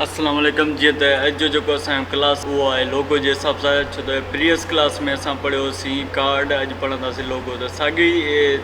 السلام عليڪم جيئن ته اڄ جو جيڪو اسان جو ڪلاس اهو آهي لوگو جي حساب سان ڇو ته پريوس ڪلاس ۾ اسان پڙهيو هوسين ڪارڊ اڄ پڙهنداسين لوگو ته ساڳي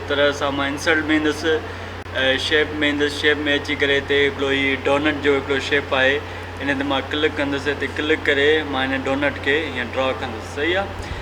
طرح سان مان انسلٽ ۾ ايندس شيپ ۾ ايندس شيپ ۾ اچي ڪري هتي هڪڙو هي ڊونٽ جو هڪڙو شيپ آهي ان تي مان ڪلڪ ڪندس هتي ڪلڪ ڪري مان هن ڊونٽ کي هيئن ڊرا ڪندس صحيح آهي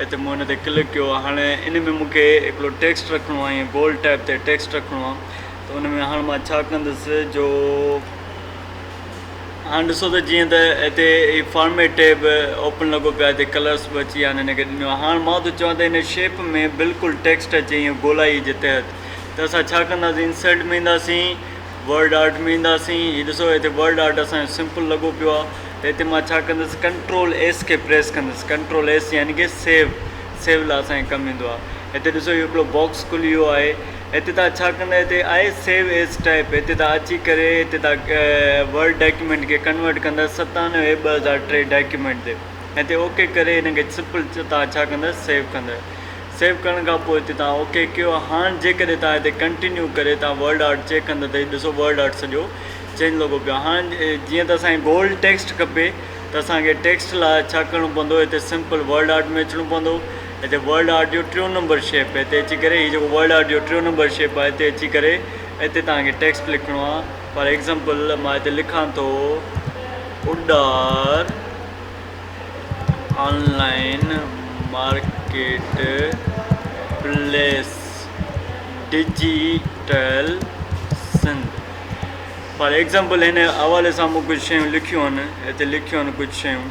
هتي مون هن تي ڪلڪ ڪيو هاڻ ان ۾ مون کي هڪڙو ٽيڪسٽ رکڻو آهي ائين بولڊ ٽائپ تي ٽيڪسٽ رکڻو آهي ته ان ۾ هاڻ مان ڇا ڪندس جو هاڻ ڏسو ته جيئن ته هتي هي فارميٽ ٽيب اوپن لڳو پيو آهي هتي ڪلرس به اچي ويا آهن هن کي ڏنو آهي هاڻ مان ٿو چوان ته هن شيپ ۾ بلڪل ٽيڪسٽ اچي ائين گولائي جي تحت ته اسان ڇا ڪنداسين انسرٽ ۾ اينداسين ورڊ آرٽ ۾ اينداسين هي ڏسو هتي ورڊ آرٽ اسانجو سمپل لڳو پيو آهي ته هتي مان ڇا ڪندس ڪنٽرول ايس کي پريس ڪندس ڪنٽرول ايس يعني کي سيو سيو لاء اسان کي ڪم ايندو آهي هتي ڏسو اهو هڪڙو باڪس کلي ويو آهي هتي تان ڇا ڪندا هتي آهي سيو ايس ٽائپ هتي تان اچي ڪري هتي تان ورڊ ڊاڪيومينٽ کي ڪنورٽ ڪندا ستانوي ٻه هزار ٽي ڊاڪيومينٽ تي هتي اوڪي ڪري هن کي سمپل تان ڇا ڪندا سيو ڪندا سيو ڪرڻ کان پوء هتي تان اوڪي ڪيو هاڻ جيڪڏهن تان هتي ڪنٽينيو ڪري تان ورڊ آرٽ چيڪ ڪندا ته ڏسو ورڊ آرٽ سڄو چئن لڳو پيو هاڻ جيئن ته اسان کي گولڊ ٽيڪسٽ کپي ته اسان کي ٽيڪسٽ لاء ڇا ڪرڻو پوندو هتي سمپل ورڊ آرٽ ۾ اچڻو پوندو هتي ورڊ آرٽ جو ٽيون نمبر شيپ هتي اچي ڪري هي جيڪو ورڊ آرٽ جو ٽيون نمبر شيپ آهي هتي اچي ڪري هتي توهان کي ٽيڪسٽ لکڻو آهي فار ايگزامپل مان هتي لکان ٿو اڏار online marketplace digital Sindh for example هن حوالي سان مون ڪجهه شيون لکيون آهن هتي لکيون آهن ڪجهه شيون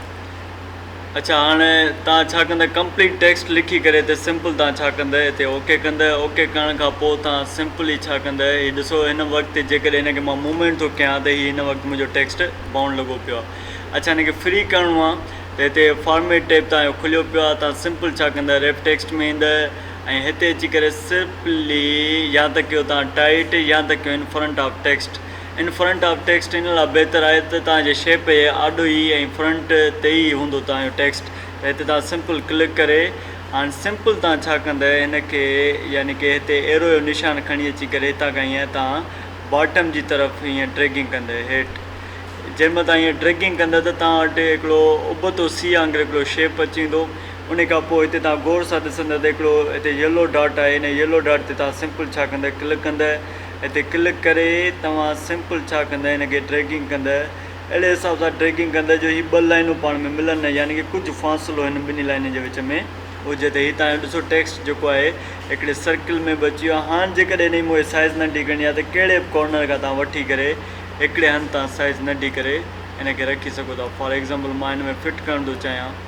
اچا هاڻي تان ڇا ڪندا ڪمپليٽ ٽيڪسٽ لکي ڪري هتي سمپل تان ڇا ڪندا هتي اوڪي ڪندا اوڪي ڪرڻ کان پوء تان سمپلي ڇا ڪندا هي ڏسو هن وقت جيڪڏهن هن کي مان موومينٽ ٿو ڪيان ته هي هن وقت منهنجو ٽيڪسٽ بائونڊ لڳو پيو آهي اچا هن کي فري ڪرڻو آهي ته هتي فارميٽ ٽيب تان کليو پيو آهي تان سمپل ڇا ڪندا ريپ ٽيڪسٽ ۾ ايندا ۽ هتي اچي ڪري سرپلي يا ته ڪيو تان ٽائيٽ يا ته ڪيو in front of text in front of text ان لا بهتر آهي ته تان جي شيپ جي آڏو ئي ۽ فرنٽ تي ئي هوندو تان جو ٽيڪسٽ ته هتي تان سمپل ڪلڪ ڪري هاڻ سمپل تان ڇا ڪندء هن کي يعني ڪي هتي ايرو جو نشان کڻي اچي ڪري هتان کان هيئن تان باٽم جي طرف هيئن ڊريگنگ ڪندء هيٺ جنهن مهل تان هيئن ڊريگنگ ڪندء ته تان وٽ هڪڙو ابتو سي آنگر هڪڙو شيپ اچي ويندو انهي کان پوء هتي توهان غور سان ڏسندئ ته هڪڙو هتي ييلو ڊاٽ آهي انهي ييلو ڊاٽ تي توهان سمپل ڇا ڪندئ ڪلڪ ڪندئ هتي ڪلڪ ڪري توهان سمپل ڇا ڪندئ هن کي ڊريگنگ ڪندئ اهڙي حساب سان ڊريگنگ ڪندئ جو هي ٻه لائنون پاڻ ۾ ملن نه يعني ڪه ڪجهه فاصلو هن ٻنهي لائنن جي وچ ۾ هجي ته هي توهان جو ڏسو ٽيڪسٽ جيڪو آهي هڪڙي سرڪل ۾ به اچي ويو هاڻ جيڪڏهن هن جي مون کي سائيز ننڍي ڪرڻي آهي ته ڪهڙي به ڪارنر کان توهان وٺي ڪري هڪڙي هنڌ تان سائيز ننڍي ڪري هن کي رکي سگهو ٿا فار ايگزامپل مان هن ۾ فٽ ڪرڻ ٿو چاهيان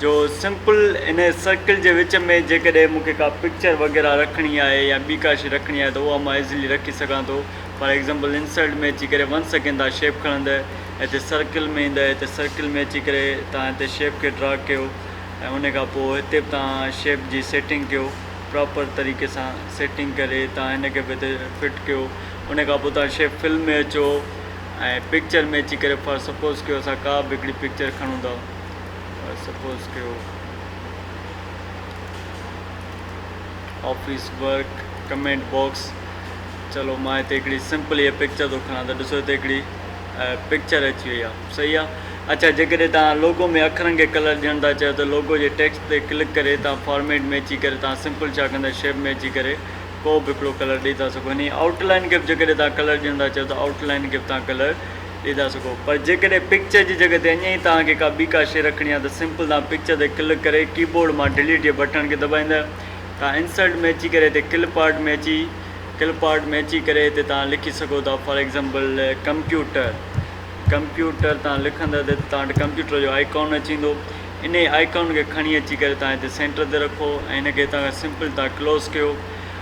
جو سمپل ان سرڪل جي وچ ۾ جيڪڏهن مون کي ڪا پڪچر وغيره رکڻي آهي يا ٻي ڪا شي رکڻي آهي ته اها مان ايزلي رکي سگهان ٿو فار ايگزامپل انسرٽ ۾ اچي ڪري ون سيڪنڊ تان شيپ کڻندء هتي سرڪل ۾ ايندء هتي سرڪل ۾ اچي ڪري تان هتي شيپ کي ڊرا ڪيو ۽ ان کان پوء هتي به تان شيپ جي سيٽنگ ڪيو پراپر طريقي سان سيٽنگ ڪري تان هن کي به هتي فٽ ڪيو ان کان پوء تان شيپ فل ۾ اچو ۽ پڪچر ۾ اچي ڪري فار سپوز ڪيو اسان ڪا به هڪڙي پڪچر کڻون ٿا سپوز ڪيو آفيس ورڪ ڪمينٽ باڪس چلو مان هتي هڪڙي سمپل هي پڪچر ٿو کڻان ته ڏسو هتي هڪڙي پڪچر اچي وئي آهي صحيح آهي اچھا جيڪڏهن تان لوگو ۾ اکرن کي ڪلر ڏيڻ ٿا چاهيو ته لوگو جي ٽيڪسٽ تي ڪلڪ ڪري تان فارميٽ ۾ اچي ڪري تان سمپل ڇا ڪندا شيپ ۾ اچي ڪري ڪو به هڪڙو ڪلر ڏئي ٿا سگھو هني آئوٽ لائن کي به جيڪڏهن تان ڪلر ڏيڻ ٿا چاهيو ته آئوٽ لائن کي به تان ڪلر ڏئي ٿا سگهو پر جيڪڏهن پڪچر جي جڳهه تي اڃا ئي توهان کي ڪا ٻي ڪا شي رکڻي آهي ته سمپل توهان پڪچر تي ڪلڪ ڪري ڪيبورڊ مان ڊليٽ جي بٽڻ کي دٻائيندء توهان انسرٽ ۾ اچي ڪري هتي ڪلپ آرٽ ۾ اچي ڪلپ آرٽ ۾ اچي ڪري هتي توهان لکي سگهو ٿا فار ايگزامپل ڪمپيوٽر ڪمپيوٽر توهان لکندء ته توهان وٽ ڪمپيوٽر جو آئيڪون اچي ويندو انهي آئيڪون کي کڻي اچي ڪري توهان هتي سينٽر تي رکو ۽ هن کي هتان کان سمپل توهان ڪلوز ڪيو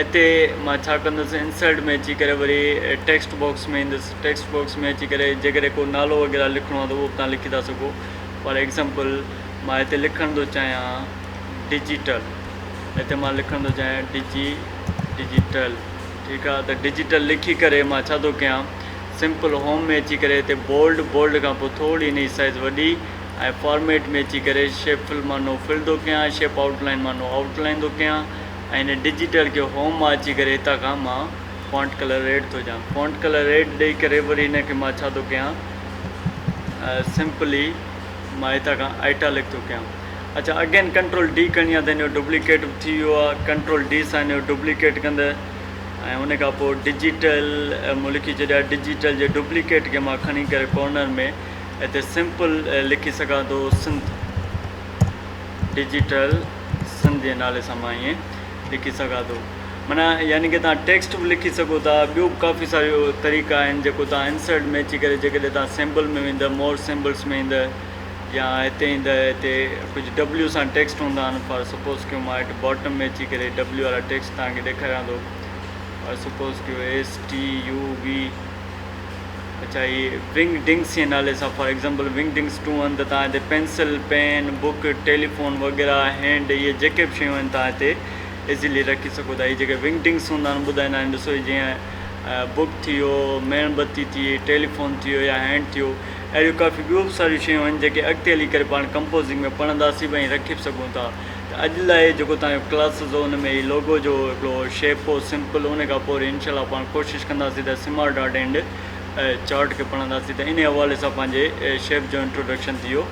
اتي مان ڇا ڪندس انسرٽ ۾ اچي ڪري وري ٽيڪسٽ باڪس ۾ ايندس ٽيڪسٽ باڪس ۾ اچي ڪري جيڪڏهن ڪو نالو وغيره لکڻو آهي ته اهو به تان لکي ٿا سگهو فار ايگزامپل مان هتي لکڻ ٿو چاهيان ڊجيٽل هتي مان لکڻ ٿو چاهيان ڊجي ڊجيٽل ٺيڪ آهي ته ڊجيٽل لکي ڪري مان ڇا ٿو ڪيان سمپل هوم ۾ اچي ڪري هتي بولڊ بولڊ کان پوء ٿوري ان جي سائز وڏي ۽ فارميٽ ۾ اچي ڪري شيپ فل مان نو فل ٿو ڪيان شيپ آؤٽ لائن مان نو آؤٽ لائن ٿو ڪيان ۽ هن ڊجيٽل ڪيو هوم مان اچي ڪري هتان کان مان فونٽ ڪلر ريڊ ٿو ڏيان فونٽ ڪلر ريڊ ڏئي ڪري وري هن کي مان ڇا ٿو ڪيان سمپلي مان هتان کان آئٽالڪ ٿو ڪيان اچھا اگين ڪنٽرول ڊي کڻي آ ته هن جو ڊپليڪيٽ به ٿي ويو آ ڪنٽرول ڊي سان هن جو ڊپليڪيٽ ڪندء ۽ ان کان پوء ڊجيٽل مون لکي ڇڏيا ڊجيٽل جي ڊپليڪيٽ کي مان کڻي ڪري ڪارنر ۾ هتي سمپل لکي سگھان ٿو سنڌ ڊجيٽل سنڌ جي نالي سان مان ائين لکي سگهان ٿو معنيٰ يعني ڪي تان ٽيڪسٽ به لکي سگهو ٿا ٻيو به ڪافي ساريو طريقا آهن جيڪو تان انسرٽ ۾ اچي ڪري جيڪڏهن تان سيمبل ۾ ويندو مور سيمبلس ۾ ايندو يا هتي ايندو هتي ڪجهه ڊبليو سان ٽيڪسٽ هوندا آهن فار سپوز ڪيو مان هيٺ باٽم ۾ اچي ڪري ڊبليو وارا ٽيڪسٽ تان کي ڏيکاريان ٿو فار سپوز ڪيو ايس ٽي يو وي اچا هي ونگ ڊنگس جي نالي سان for example Wingdings two آهن ته تان هتي پينسل پين بوڪ ٽيليفون وغيره هينڊ اهي جيڪي به شيون آهن تان هتي ايزيلي رکي سگهو ٿا هي جيڪي ونگ ڊنگس هوندا آهن ٻڌائيندا آهن ڏسو هي جيئن بوڪ ٿي ويو ميڻ بتي ٿي ٽيليفون ٿي ويو يا هينڊ ٿي ويو اهڙيون ڪافي ٻيون به ساريون شيون آهن جيڪي اڳتي هلي ڪري پاڻ ڪمپوزنگ ۾ پڙهنداسين به ۽ رکي به سگهون ٿا ته اڄ لاء جيڪو تهان جو ڪلاسز هو ان ۾ هي لوگو جو هڪڙو شيپ هو سمپل ان کان پوء وري انشاء الله پاڻ ڪوشش ڪنداسين ته سمارٽ آرٽ اينڊ چارٽ کي پڙهنداسين ته ان حوالي سان پنهنجي شيپ جو انٽروڊڪشن ٿي ويو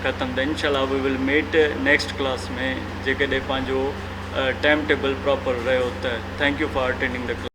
ختم ته انشاء الله we will meet next class ۾ جيڪڏهن پنهنجو ٽائم ٽيبل پراپر رهيو ته thank you for attending the class